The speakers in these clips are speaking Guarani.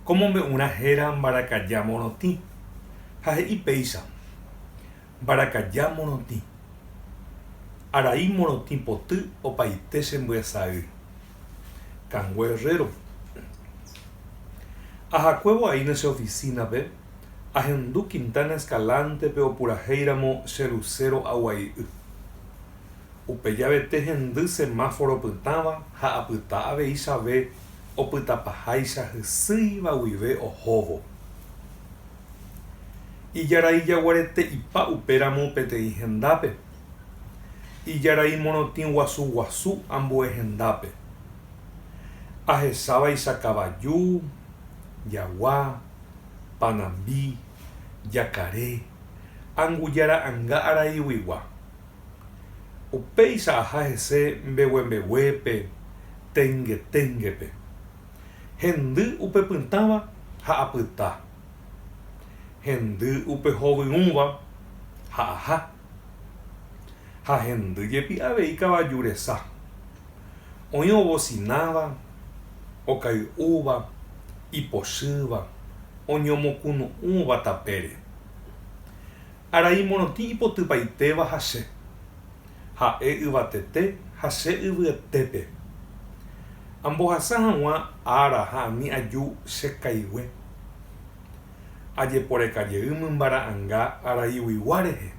Ko mombe'urã héra mbarakaja morotĩ ha he'i péicha, Mbarakaja morotĩ, arai morotĩ poty opaite che mbyasa'y, Cangwe Herrero. Ahakuévo aína che oficina-pe, ahendu Quintana Escalante-pe opurahéiramo che Lucero aguai'y. Upe javete hendy semáforo opytãva ha apyta aveichavee opytapaháicha hysýiva guive ohóvo. Ijarai jaguarete ipa upéramo peteĩ hendápe. Ijarai morotĩ guasu guasu ambue hendápe. Ahechávaicha kavaju, jagua, panambi, jakare, angujara anga araiguigua, Upéicha aha hese mbeguembeguépe tengeténgepe. Hendy upe pytãva ha apyta. Hendy upe hovyũva ha aha. Ha hendy jepi avei kavaju resa. Oĩ ovosináva, okay'úva, ipochýva, oñomokunu'ũva tapére. Arai morotĩ ipotypaitéva ha che, ha'e yvatete ha che yvyetépe. Ambohasa hag̃ua ára ha ani aju che kaigue. Ajeporeka jey mymba ra'anga araiguigua rehe.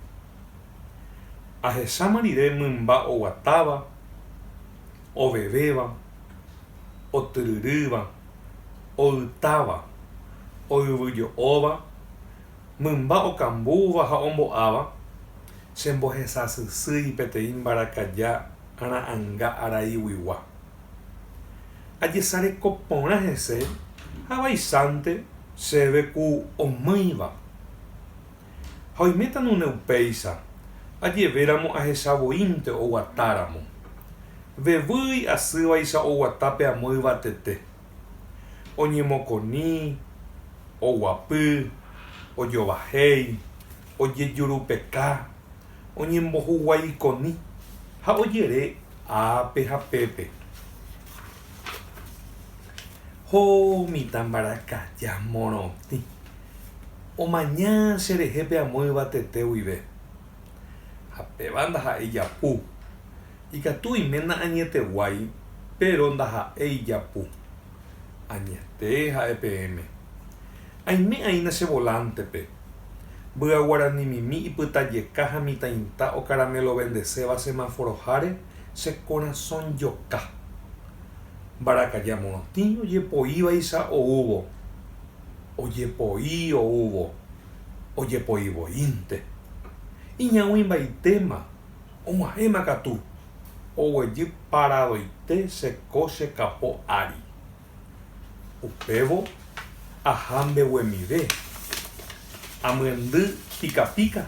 Ahecháma rire mymba oguatáva, ovevéva, otyryrýva, oytáva, oyvyjo'óva mymba okambúva ha ombo'áva, chembohesasysýi peteĩ mbarakaja ra'ãnga araiguigua. Ajesareko porã hese ha vaicháinte chéve ku omýiva. Ha oiméta nune upéicha, ajevéramo ahecha voínte oguatáramo. Vevýi asývaicha oguata pe amo yvatete. oñemokõi, oguapy, ojovahéi, ojejurupeka, oñembohuguaikõi ha ojere ápe ha pépe. Ho mitã mbarakaja morotĩ, omaña cherehe pe amo yvatete guive. Ha péva ndaha'éi japu, Ikatu iména añeteguái, péro ndaha'éi ijapu. Añete ha'e peẽme. Aime'aína che volántepe. Mbya guaranimimi ipytajeka ha mitãita okaramelovendeséva semaforoháre che korasõ joka. Mbarakaja morotĩ ojepoívaicha oúvo. Ojepoi oúvo. Ojepoivoínte. Iñaũimbaitéma. Og̃uahẽma katu, oguejy paradoite che ko che kapo ári. Upévo aha mbeguemive, amyendy pika pika,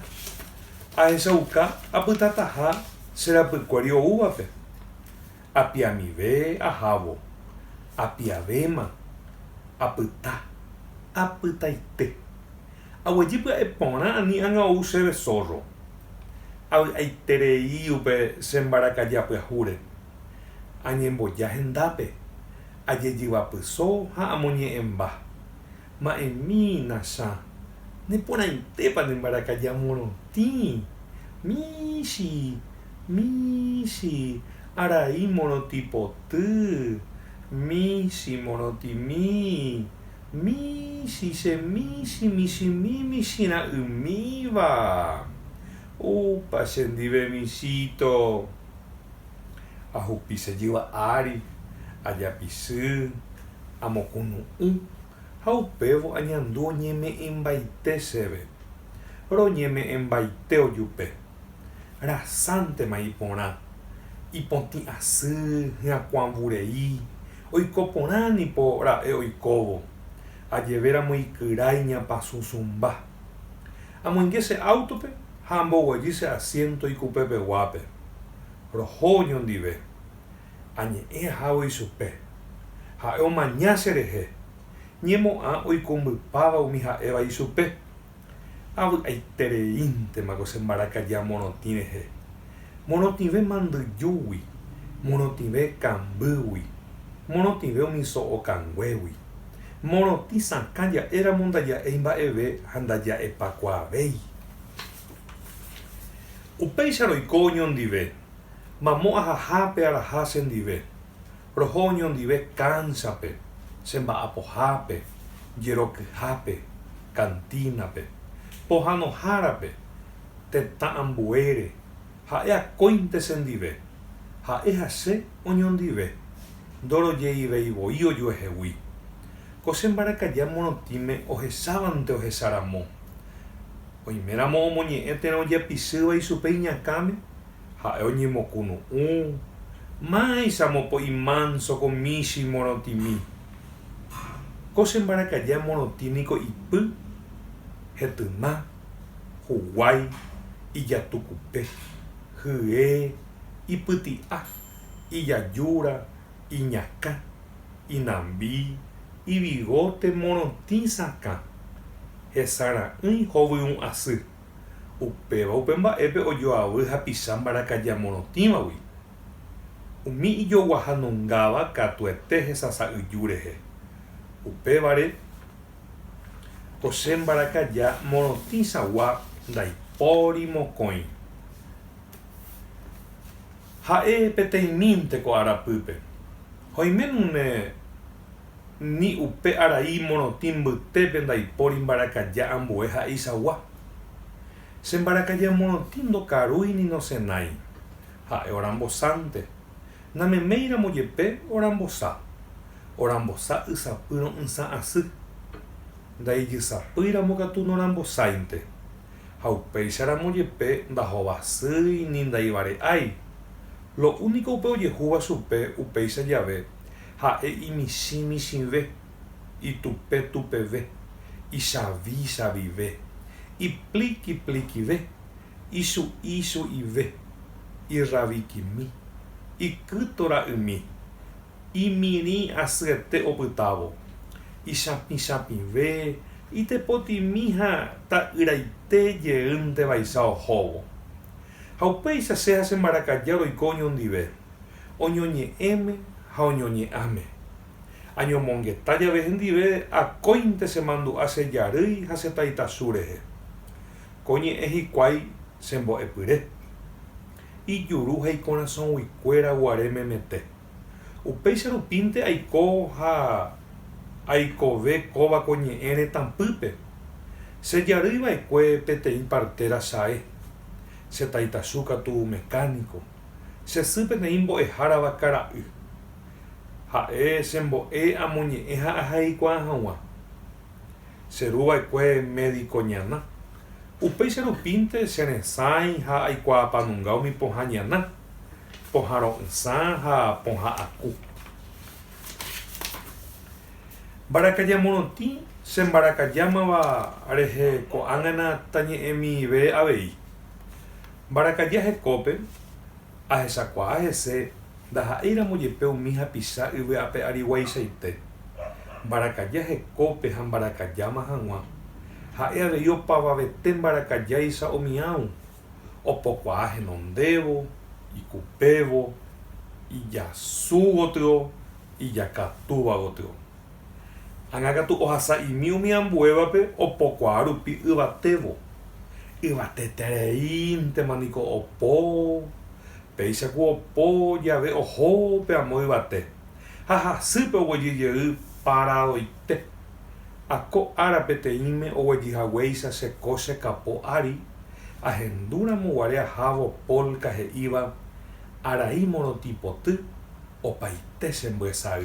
ahechauka apytataha che rapykuéri oúvape. Apiamive ahávo, apiavéma, apyta, apytaite. Aguejy pya'e porã ani ág̃a ou chéve zórro. Avy'aiterei upe che mbarakaja pyahúre. Añemboja hendápe, ajejyva pyso ha amoñe'ẽmba. Ma'ẽmi, Nachã, ne porãitépa ne mbarakaja morotĩ? Michi, michi, arai morotĩ poty, michi morotĩmi. Michĩ che michĩ michĩmi michĩra'ymíva. Upa che ndive michĩto. Ahupi che jyva ári, ajapisy, amokunu'ũ ha upévo añandu oñeme'ẽmbaite chéve. Roñeme'ẽmbaite ojupe. Rasántema iporã, ipotĩ asy, hyakuãvurei, oiko porã nipo ra'e oikóvo, ajevéramo ikyra iñapasũsũmba. Amoinge che áutope ha amboguejy che asiénto ikupepeguápe. Roho oñondive. Añe'ẽ ahávo ichupe. Ha'e omaña cherehe. Ñemo'ã oikumbypáva umi ha'éva ichupe. Avy'aitereíntema ko che mbarakaja morotĩ rehe, morotĩve mandyjúgui, morotĩve kambýgui, morotĩve umi so'o kanguégui. Morotĩ sakã ja'e ramo ndaja'éi mba'eve ha ndaja'epakuaavéi. Upéicha roiko oñondive, mamo ahaha pe araha che ndive. Roho oñondive kánsape, che mba'apohápe, jerokyhápe, kantínape, pohãnohárape, tetã ambuére, ha'e akóinte che ndive, ha'e ha che oñondive, ndorojeivei voi ojuehegui. Ko che mbarakaja morotĩme ohechávante ohecha ramo. Oiméramo omoñe'ẽ térã ojepisýva ichupe iñakãme, Ha'e oñemokunu'ũ, Máicha mopo'i mánso ko michĩ morotĩmi. Ko che mbarakaja morotĩ niko ipy, hetyma, huguái, ijatukupe, hye, ipyti'a, ijajúra, iñakã, inambi, ivigóte morotĩ sakã, hesara'ỹi hovyũ asy. Upéva upe mba'épe ojoavy hapicha mbarakaja morotĩvagui. Umi ijoguahanungáva katuete hesasa'yju rehe. Upévare, ko che mbarakaja morotĩchagua ndaipóri mokõi. Ha'e peteĩmínte ko arapýpe. Ha oiménune. ni upe arai morotĩ mbytépe ndaipóri mbarakaja ambue ha'eichagua. Che mbarakaja morotĩ ndokarúi ni nosenái, ha'e orambosánte, nameméiramo jepe orambosa, orambosa ysapy ro'ysã asy, ndaijysapýiramo katu norambosáinte, ha upéicharamo jepe ndahovasýi ni ndaivare'ái, lo úniko upe ojehúva chupe upéicha jave Ha'e imichĩ michĩve, itupe tupeve, ichavi chavive, ipliki plikive, ichu'i chu'ive, irravikimi, ikyto ra'ymi, imirĩ asyete opytávo, ichapĩ chapĩve, itepotimi ha ta'yraite jeýnte vaicha ohóvo. Ha upéicha che ha che mbarakaja roiko oñondive. oñoñe'ẽme ha oñoñe'ãme. Añomongeta jave hendive, akóinte che mandu'a che jarýi ha che taitasu rehe. Ko ñe'ẽ hikuái che mbo'epyre. Ijuru ha ikorasõguikuéra guare memete. Upéicha rupínte aiko ha aikove kóva ko ñe'ẽ retãpýpe. Che jarýi vaekue peteĩ partera sae. Che taitasu katu mecánico. Che sy peteĩ mbo'ehárava kara'y. Ha'e che mbo'e amoñe'ẽ ha ahaikuaa hag̃ua. Che ru va'ekue médiko ñana. Upéicha rupínte che resãi ha aikuaapanunga umi pohã ñana, pohã ro'ysã ha pohã aku. Mbarakaja morotĩ che mbarakajámava rehe ko'ág̃ana tañe'ẽmive avei. Mbarakaja hekópe, ahechakuaa hese ndaha'éiramo jepe umi hapicha yvy ape ariguaichaite. Mbarakaja hekópe ha mbarakajáma hag̃ua, ha'e avei opavavete mbarakajáicha omiãu, opokuaa henondévo, ikupévo, ijasu gotyo, ijakatúva gotyo. Ág̃a katu ohasa'imi umi ambuévape opokuaa rupi yvatévo. Yvatetereíntema niko opo, péicha ku opo jave oho pe amo yvate, ha hasýpe oguejy jey paradoite. Ha ko ára peteĩme oguejy haguéicha che kóche kapo ári, ahendu ramo guare ahávo Polka he'íva arai morotĩ poty opaite che mbyesay.